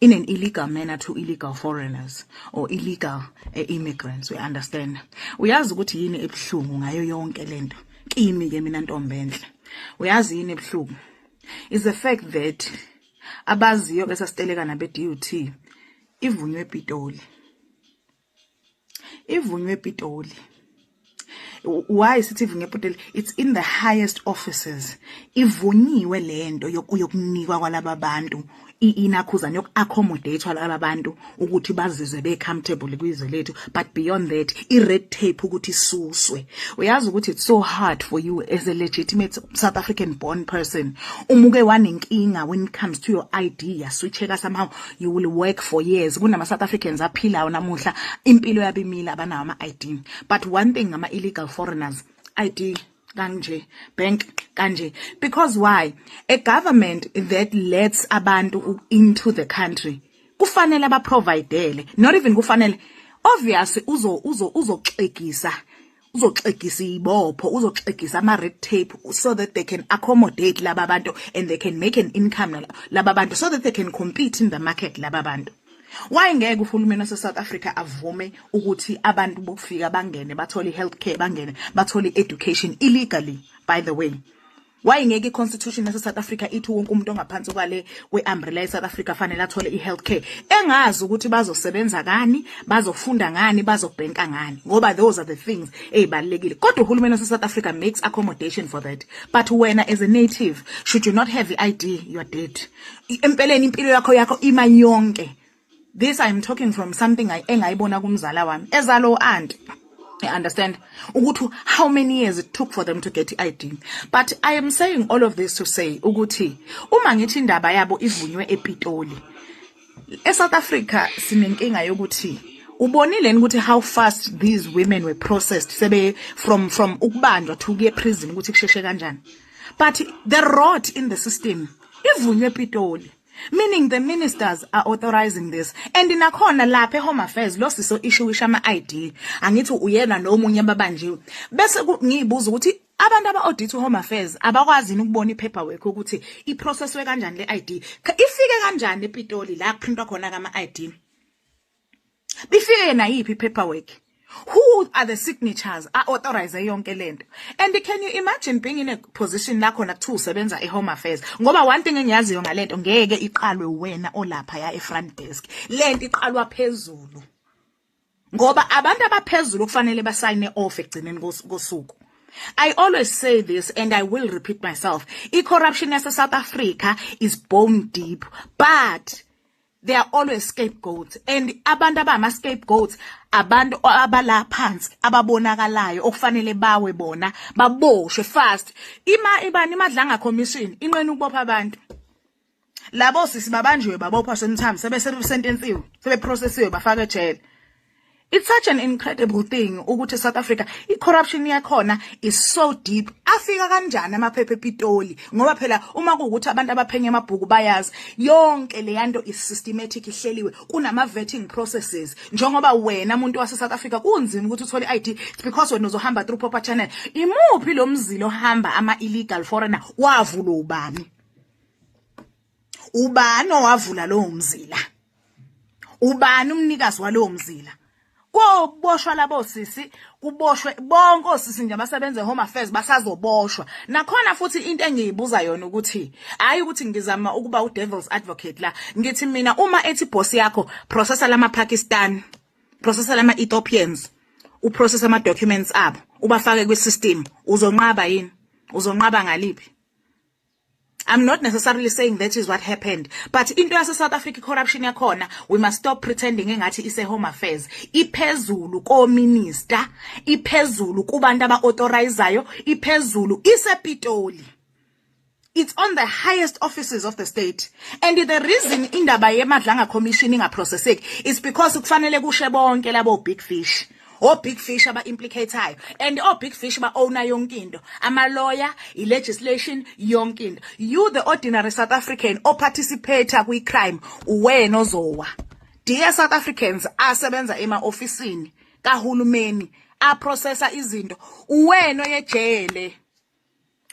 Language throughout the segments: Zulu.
in an illegal manner to illegal foreigners or illegal eh, immigrants we understand uyazi ukuthi yini ebuhlungu ngayo yonke lento kimi ke mina ntombi enhle uyazi yini ebuhlungu is the fact that abaziyo bese siteleka nabe DUT ivunywe ePitoli ivunywe ePitoli why sithi ivunywe ePitoli it's in the highest offices ivunyiwe lento yokunikwa kwalaba bantu inakhuzana yoku-accommodate laba bantu ukuthi bazizwe be-comfortable kwizwe lethu but beyond that i-red tape ukuthi isuswe uyazi ukuthi it's so hard for you as a legitimate south african born person umuke wanenkinga when it comes to your id yaswitcheka somehow you will work for years kunama South Africans aphilayo namuhla impilo yabimila abanawo ama ID but one thing ngama illegal foreigners ID kanje bank kanje because why a government that lets abantu into the country kufanele abaprovidele not even kufanele obviously uzo uzo uzoxegisa uzoxegisa iyibopho uzoxegisa ama red tape so that they can accommodate laba bantu and they can make an income laba bantu so that they can compete in the market laba bantu why ngeke uhulumeni wase South Africa avume ukuthi abantu bokufika bangene bathole healthcare bangene bathole education illegally by the way Why ngeke iconstitution yase South Africa ithi wonke umuntu ongaphansi kwale weumbrella ye South Africa fanele athole ihealth care engazi ukuthi bazosebenza kani bazofunda ngani bazobhenka ngani ngoba those are the things ezibalekile kodwa uhulumeni wase South Africa makes accommodation for that but wena as a native should you not have i ID you are dead empeleni impilo yakho yakho ima yonke this i'm talking from something engayibona kumzala wami ezalo u-anti I understand ukuthi how many years it took for them to get i-ID but i am saying all of this to say ukuthi uma ngithi indaba yabo ivunywe epitoli esouth africa sinenkinga yokuthi ubonile ukuthi how fast these women were processed sebe from from ukubanjwa to kuye prison ukuthi kusheshe kanjani but the rot in the system ivunywe epitoli meaning the ministers are authorizing this and nakhona lapha ehome affairs lo siso ishuwisha ama ID angithi uyena nomunye ababanjiwe bese ngiyibuza ukuthi abantu aba audit home affairs abakwazini ukubona ipaperwork ukuthi iprocesswe kanjani le ID ifike kanjani ePitoli la kuprintwa khona kama ID bifike nayiphi paperwork who are the signatures a authorize yonke lento and can you imagine being in a position la khona kuthiwa usebenza e-home affairs ngoba one thing engiyaziyo ngalento ngeke iqalwe wena olapha ya e-front desk lento iqalwa phezulu ngoba abantu abaphezulu kufanele basayine off ekugcineni kosuku I always say this and I will repeat myself. I-corruption yase South Africa is bone deep, but they are always scapegoats and abantu abama scapegoats abantu abala phansi ababonakalayo okufanele bawe bona baboshwe fast ima ibani imadlanga commission inqena ukubopha abantu labo sisi babanjiwe babophwa semthamo sebe sentensiwe sebe processiwe bafaka ejele It's such an incredible thing ukuthi South Africa icorruption yakhona is so deep. Afika kanjani amaphepha ePitoli ngoba phela uma kuwukuthi abantu abaphenya amabhuku bayazi yonke leyanto is systematic ihleliwe kunama vetting processes njengoba wena umuntu wase South Africa kunzima ukuthi uthole ID it's because wena uzohamba through proper channel. Imuphi lomzilo ohamba ama illegal foreigner wavula ubani? ubani owavula lowo mzila ubani umnikazi walowo mzila koboshwa labo sisi kuboshwe bonke osisi nje abasebenza home affairs basazoboshwa nakhona futhi into engiyibuza yona ukuthi hayi ukuthi ngizama ukuba u devil's advocate la ngithi mina uma ethi boss yakho processor lama Pakistan processor lama Ethiopians u process ama documents abo ubafake kwi system uzonqaba yini uzonqaba ngaliphi I'm not necessarily saying that is what happened but into yase South Africa corruption yakhona we must stop pretending engathi ise home affairs iphezulu ko minister iphezulu kubantu aba authorizayo iphezulu ise Pitoli it's on the highest offices of the state and the reason indaba yemadlanga commission ingaprocesseki is because kufanele kushe bonke labo big fish o big fish aba implicatayo and o big fish ba owner yonke into ama lawyer i legislation yonke into you the ordinary south african o participate kwi crime uwena ozowa dear south africans asebenza ema officeini kahulumeni a processa izinto uwena oyejele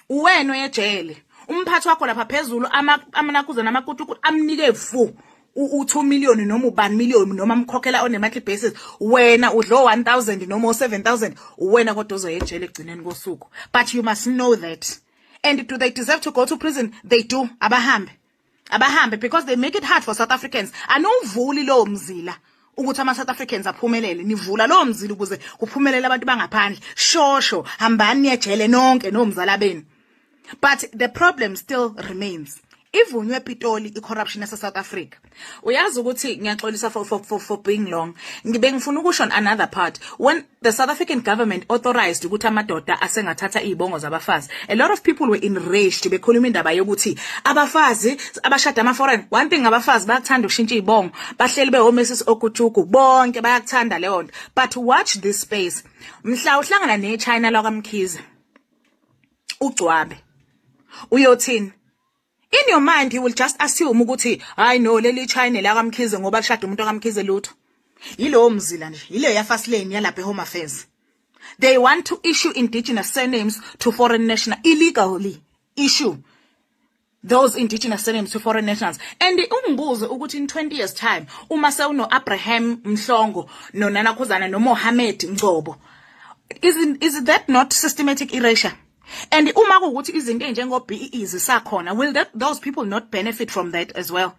uwena oyejele umphathi wakho lapha phezulu amanakuzana amakutukutu amnike fu u-2 million noma ubani million noma mkhokhela on a monthly basis wena udlo 1000 noma 7000 uwena kodwa ozoyejele egcineni kosuku but you must know that and do they deserve to go to prison they do abahambe abahambe because they make it hard for south africans anowuvuli lowo mzila ukuthi ama-south africans aphumelele nivula lowo mzila ukuze kuphumelele abantu bangaphandle shosho hambani niyejele nonke nomzala benu but the problem still remains ivunywe epitoli i-corruption yase-south africa uyazi ukuthi ngiyaxolisa for, for, for, for being long ngibe ngifuna ukusho on another part when the South African government authorized ukuthi amadoda asengathatha izibongo zabafazi a lot of people were enraged bekhuluma indaba yokuthi abafazi abashada ama foreign one thing abafazi bayakuthanda ukushintsha izibongo bahleli behomesis okujugu bonke bayakuthanda leyo nto but watch this space mhla uhlangana ne China lakamkhize ugcwabe uyothini In your mind you will just assume ukuthi hayi no leli China la kaMkhize ngoba lishada umuntu kaMkhize lutho. Yilowo mzila nje, yileyo ya first lane yalapha eHome Affairs. They want to issue indigenous surnames to foreign national illegally issue those indigenous surnames to foreign nationals and ungibuze ukuthi in 20 years time uma sewuno Abraham Mhlongo nonana Khuzana noMohammed Ngcobo is is that not systematic erasure and uma kuwukuthi izinto ezinjengo BEE zisakhona will that, those people not benefit from that as well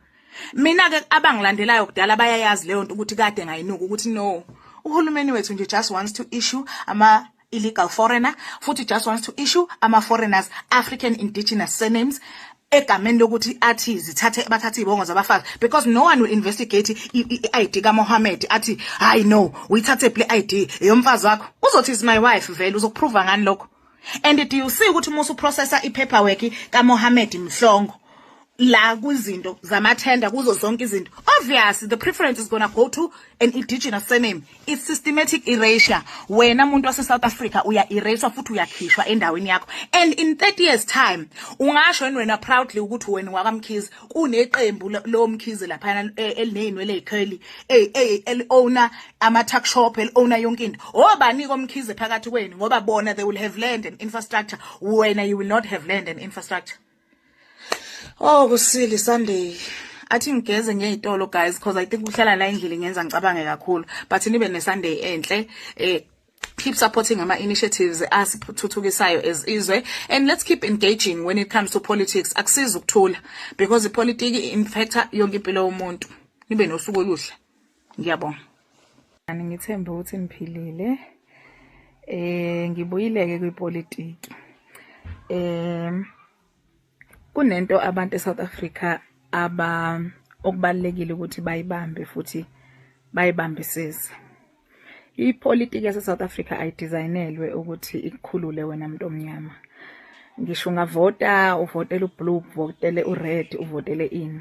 mina ke abangilandelayo kudala bayayazi leyo nto ukuthi kade ngayinuka ukuthi no uhulumeni wethu nje just wants to issue ama illegal foreigner futhi just wants to issue ama foreigners African indigenous surnames egameni lokuthi athi zithathe bathathe izibongo zabafazi because no one will investigate i-ID ka Mohammed athi hayi no uyithathe ple ID eyomfazi wakho uzothi is my wife vele uzokuprova ngani lokho and do you see ukuthi musu processor ipaperwork ka Mohammed Mhlongo la kwizinto zamathenda kuzo zonke izinto obviously the preference is going to go to an indigenous surname It's systematic erasure. Wena muntu wase South Africa uya eraswa futhi uyakhishwa endaweni yakho. And in 30 years time ungasho yini wena proudly ukuthi wena wakamkhize kuneqembu lomkhize lapha e, elineyinwele ezikheli eh eh el owner ama tuck shop el owner yonke into. Obani oh, komkhize phakathi kwenu ngoba bona they will have land and infrastructure. Wena you will not have land and infrastructure. Oh kusile Sunday. Athi ngigeze ngiye ezitolo guys because I think uhlala la endlini ngenza ngicabange kakhulu but nibe ne Sunday enhle eh keep supporting ama initiatives asithuthukisayo as izwe and let's keep engaging when it comes to politics akusiza ukuthula because ipolitiki infecta yonke impilo yomuntu nibe nosuku oluhle ngiyabonga ani ngithembe ukuthi niphilile eh ngibuyileke kwipolitiki eh kunento abantu eSouth Africa aba okubalekile ukuthi bayibambe futhi bayibambisise ipolitiki yaseSouth Africa ayidesignelwe ukuthi ikukhulule wena muntu omnyama ngisho ungavota uvotele ublue uvotele ured uvotele ini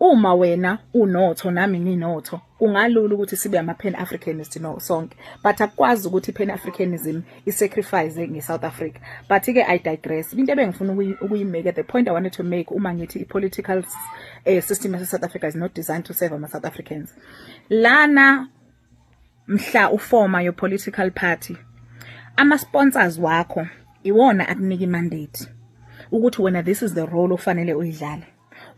Uma wena unotho nami nginotho kungalula ukuthi sibe ama Pan Africanist no sonke but akwazi ukuthi Pan Africanism i sacrifice nge South Africa but ke I digress into ebengifuna ukuyimeka the point I wanted to make uma ngithi i political uh, system yase South Africa is not designed to serve ama South Africans lana mhla uforma your political party ama sponsors wakho iwona akunika i mandate ukuthi wena this is the role ofanele uyidlale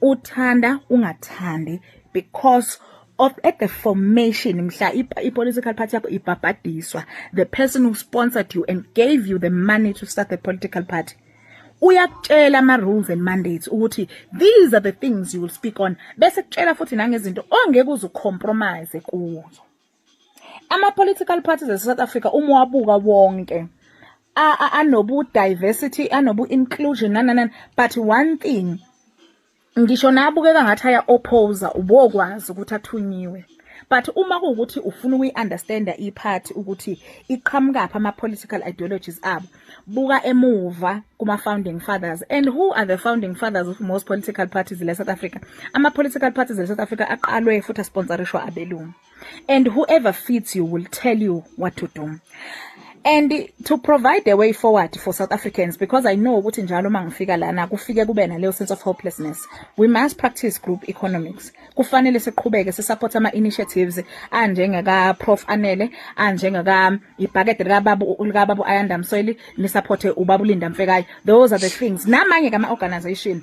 uthanda ungathandi because of at the formation mhla i-political party yakho ibhabhadiswa the person who sponsored you and gave you the money to start the political party uyakutshela ama rules and mandates ukuthi these are the things you will speak on bese kutshela futhi nangezinto ongeke uzu compromise kuzo Ama-political parties ase-South Africa uma uwabuka wonke anobu-diversity anobu-inclusion nananani but one thing ngisho nabukeka ngathi aya-opposa ubokwazi ukuthi athunyiwe but uma kuwukuthi ufuna ukuyi-understanda iphathi ukuthi iqhamukaphi ama-political ideologies abo buka emuva kuma-founding fathers and who are the founding fathers of most political parties le-south africa ama-political parties le-south africa aqalwe futhi asponsorishwa abelungu and whoever fits you will tell you what to do and to provide a way forward for South Africans because I know ukuthi njalo uma ngifika lana kufike kube naleyo sense of hopelessness we must practice group economics kufanele siqhubeke sisupport ama initiatives anjengeka prof Anele anjengeka ibhakede lika babu lika babu Ayanda Msoyili lisupporte ubabulinda Mfekayo those are the things namanye kama organization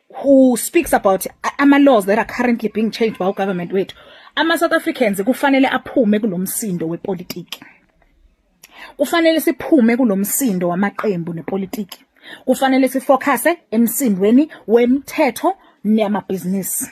who speaks about ama laws that are currently being changed by government wethu ama South Africans kufanele aphume kulomsindo wepolitiki kufanele siphume kulomsindo wamaqembu nepolitiki kufanele sifocuse emsindweni wemthetho neyamabhizinisi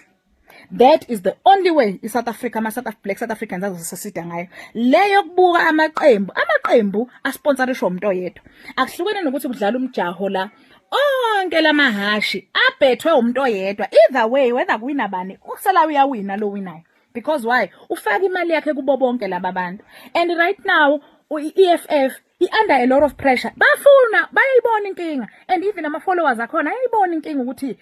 that is the only way i South Africa ama South Black South Africans azosesida ngayo leyo kubuka amaqembu amaqembu asponsorishwa umuntu oyedwa akuhlukene nokuthi kudlala umjaho la onke lamahashi abhethwe umuntu oyedwa either way whether kuwina bani usala uyawina lo winayo because why ufaka imali yakhe kubo bonke laba bantu and right now i-EFF i-under a lot of pressure bafuna bayayibona inkinga and even ama-followers akhona ayayibona inkinga ukuthi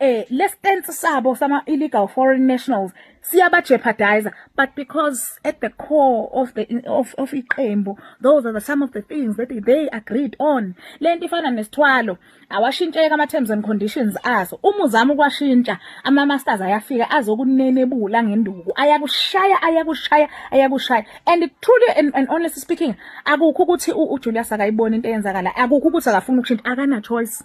eh le stance sabo sama illegal foreign nationals siyaba jeopardizer but because at the core of the of of iqembu those are the some of the things that they agreed on lento ifana nesithwalo awashintsheka ama terms and conditions aso uma uzama ukwashintsha ama masters ayafika azokunenebula ngenduku ayakushaya ayakushaya ayakushaya and truly and, and honestly speaking akukho ukuthi uJulius akayiboni into eyenzakala akukho ukuthi akafuni ukushintsha akana choice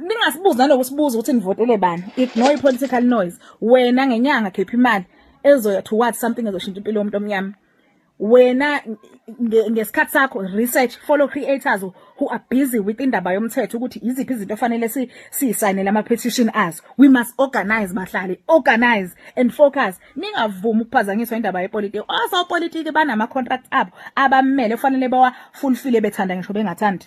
Ningasibuzi nanokusibuza ukuthi nivotele bani. Ignore i-political noise. Wena ngenyanga khipha imali ezoya towards something ezoshintsha impilo yomuntu omnyama. Wena ngesikhathi sakho research follow creators who are busy with indaba yomthetho ukuthi iziphi izinto ofanele si siyisayinele ama petition azo. We must organize bahlali, organize and focus. Ningavumi ukuphazanyiswa indaba yepolitiki. Oso politiki banama contracts abo abamele kufanele bawa fulfill bethanda ngisho bengathandi.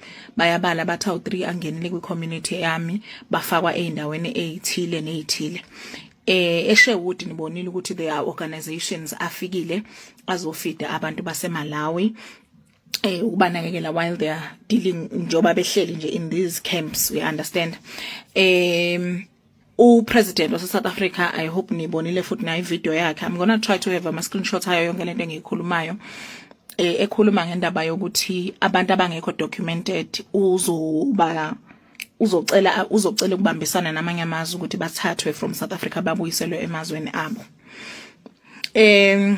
bayabala bathi awu-3 angenile kwi-community yami bafakwa ey'ndaweni ey'thile ney'thile eh eSherwood nibonile ukuthi there are organizations afikile azofida abantu baseMalawi eh ukubanakekela while they are dealing njoba behleli nje in these camps we understand um u president wase South Africa i hope nibonile futhi nayi video yakhe i'm going to try to have ama screenshots ayo yonke lento engiyikhulumayo eh, ekhuluma ngendaba yokuthi abantu abangekho documented uzoba uzocela uzocela ukubambisana namanye amazwe ukuthi bathathwe from South Africa babuyiselwe emazweni abo em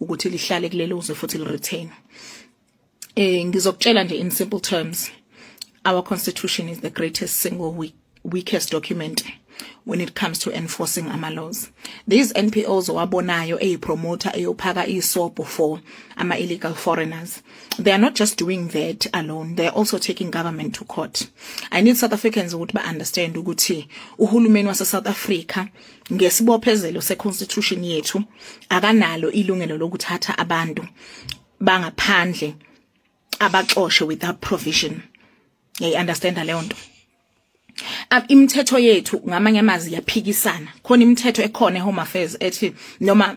ukuthi lihlale kuleli uzwe futhi li retain eh ngizokutshela nje in simple terms our constitution is the greatest single weak, weakest document when it comes to enforcing ama laws these NPOs owabonayo eyipromoter eyophaka isobho for ama illegal foreigners they are not just doing that alone they are also taking government to court i need south africans ukuthi ba understand ukuthi uhulumeni wase south africa ngesibophezelo seconstitution yethu akanalo ilungelo lokuthatha abantu bangaphandle abaxoshe without provision ngiyayi understanda leyo nto imithetho yethu ngamanye amazwi yaphikisana khona imithetho ekhona eHome Affairs ethi noma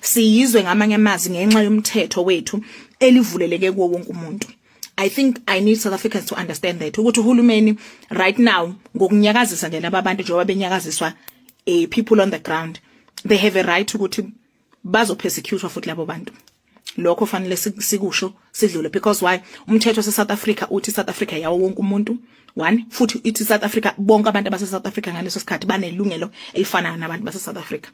siyizwe ngamanye amazi ngenxa yomthetho wethu elivuleleke kuwo wonke umuntu I think I need South Africans to understand that ukuthi uhulumeni right now ngokunyakazisa nje laba bantu njengoba benyakaziswa eh people on the ground they have a right ukuthi bazo persecute futhi labo bantu lokho fanele sikusho sidlule because why umthetho se South Africa uthi South Africa yawo wonke umuntu one futhi ithi South Africa bonke abantu abase South Africa ngaleso sikhathi banelungelo elifanayo nabantu base South Africa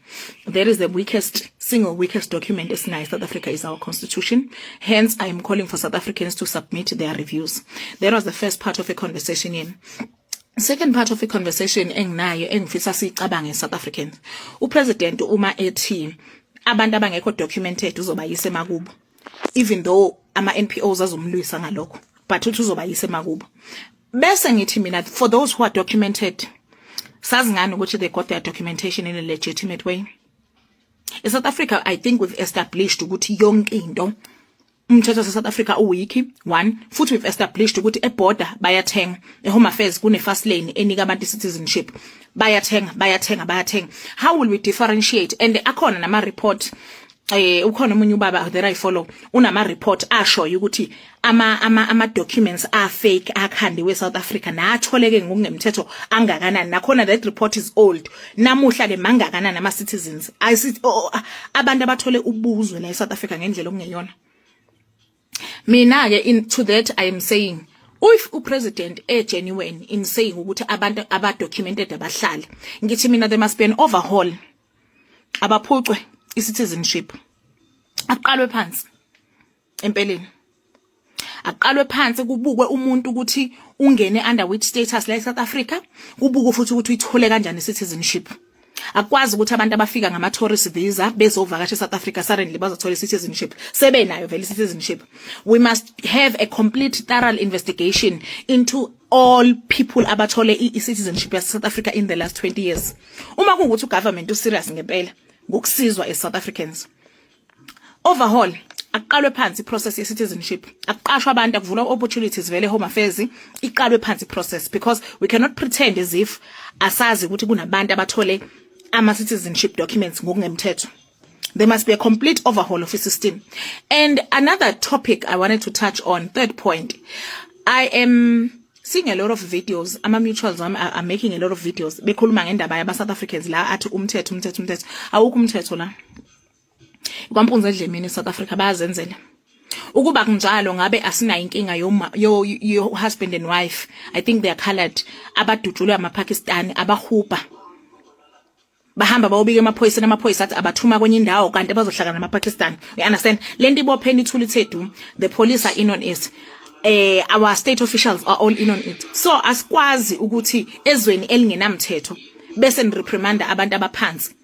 there is the weakest single weakest document esinayo South Africa is our constitution hence i am calling for South Africans to submit their reviews that was the first part of a conversation in Second part of the conversation enginayo engifisa sicabange South Africans. U president uma ethi abantu abangekho documented uzobayisa emakubo. even though ama NPOs azomlwisa ngalokho but uthi uzoba yise makubo bese ngithi mina for those who are documented sazi ngani ukuthi they got their documentation in a legitimate way e South Africa i think we've established ukuthi yonke into umthetho wase South Africa uwiki one futhi we've established ukuthi e border bayathenga e home affairs kune fast lane enika abantu citizenship bayathenga bayathenga bayathenga how will we differentiate and akhona nama report eh ukhona omunye ubaba that I follow unama report ashoyo ukuthi ama ama ama documents are fake akhandiwe South Africa natholeke ngokungemthetho angakanani nakhona that report is old namuhla ke mangakanani ama citizens abantu abathole ubuzwe la eSouth Africa ngendlela okungeyona mina ke in to that i am saying if upresident e genuine in saying ukuthi abantu aba documented abahlali ngithi mina there must be an overhaul abaphucwe i-citizenship aqalwe phansi empeleni aqalwe phansi kubukwe umuntu ukuthi ungene under which status la eSouth Africa kubukwe futhi ukuthi uyithole kanjani citizenship akwazi ukuthi abantu abafika ngama tourist visa bezovakasha eSouth Africa suddenly bazothola citizenship sebenayo vele citizenship we must have a complete thorough investigation into all people abathole i-citizenship yaseSouth Africa in the last 20 years uma kungukuthi ugovernment userious ngempela ngokusizwa eSouth Africans overhaul akuqalwe phansi process ye citizenship akuqashwa abantu akuvulwa opportunities vele home affairs iqalwe phansi process because we cannot pretend as if asazi ukuthi kunabantu abathole ama citizenship documents ngokungemthetho there must be a complete overhaul of the system and another topic i wanted to touch on third point i am seeing a lot of videos ama mutuals wami are, are making a lot of videos bekhuluma ngendaba yaba South Africans la athi umthetho umthetho umthetho awukho umthetho la kwampunza edlemini South Africa bayazenzela ukuba kunjalo ngabe asinayo inkinga yo, yo, yo husband and wife i think they are colored abadutshulwe amapakistani abahuba bahamba bawubika emaphoyiseni amaphoyisa athi abathuma kwenye indawo kanti bazohlangana namapakistan you understand le nto ibopheni ithuli thethu the police are in on it eh our state officials are all in on it so asikwazi ukuthi ezweni elingenamthetho bese nireprimanda abantu abaphansi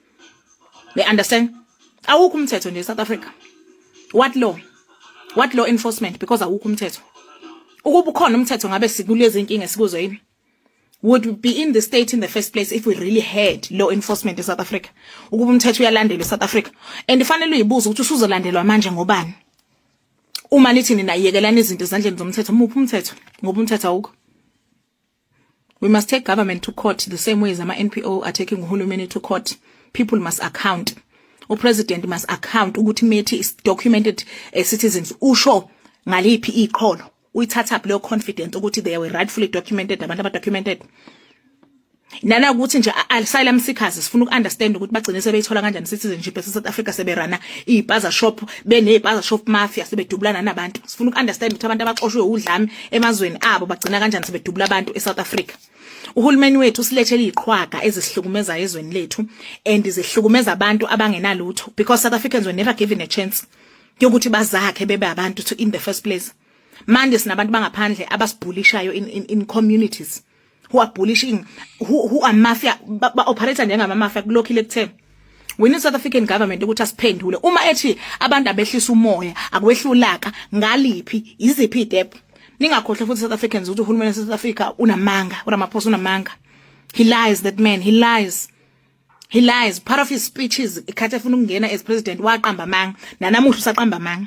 They understand? Awukho umthetho nje South Africa. What law? What law enforcement because awukho umthetho. Ukuba ukhona umthetho ngabe sikulezi inkinga sikuzo yini? would be in the state in the first place if we really had law enforcement in South Africa ukuba umthetho uyalandelwa eSouth Africa and ifanele uyibuza ukuthi usuzolandelwa manje ngobani uma nithi nina yekelana izinto ezandleni zomthetho muphi umthetho ngoba umthetho awukho We must take government to court the same way as ama NPO are taking uhulumeni to court. People must account. U president must account ukuthi methi is documented uh, citizens usho ngaliphi iqholo. Uyithatha up leyo confidence ukuthi they were rightfully documented abantu aba documented. Nana ukuthi nje asylum seekers sifuna ukuunderstand ukuthi bagcine sebeyithola kanjani citizenship ese South Africa seberana izipaza shop benezipaza shop mafia sebedubulana nabantu. Sifuna ukuunderstand ukuthi abantu abaxoshwe udlame emazweni abo bagcina kanjani sebedubula abantu eSouth Africa uhulumeni wethu usilethele iqhwaga ezisihlukumezayo ezweni lethu and zihlukumeza abantu abangenalutho because South Africans were never given a chance yokuthi bazakhe bebe abantu to in the first place manje sinabantu bangaphandle abasibhulishayo in, in, in communities who are bullying who, who are mafia ba, ba operator njengama mafia kulokhile kuthe we need South African government ukuthi asiphendule uma ethi abantu abehlisa umoya akwehlulaka ngaliphi iziphi idep ningakhohle futhi South Africans ukuthi uhulumeni South Africa unamanga uramaphosa unamanga he lies that man he lies he lies part of his speeches ikhathi efuna ukungena as president waqamba amanga nanamuhla usaqamba amanga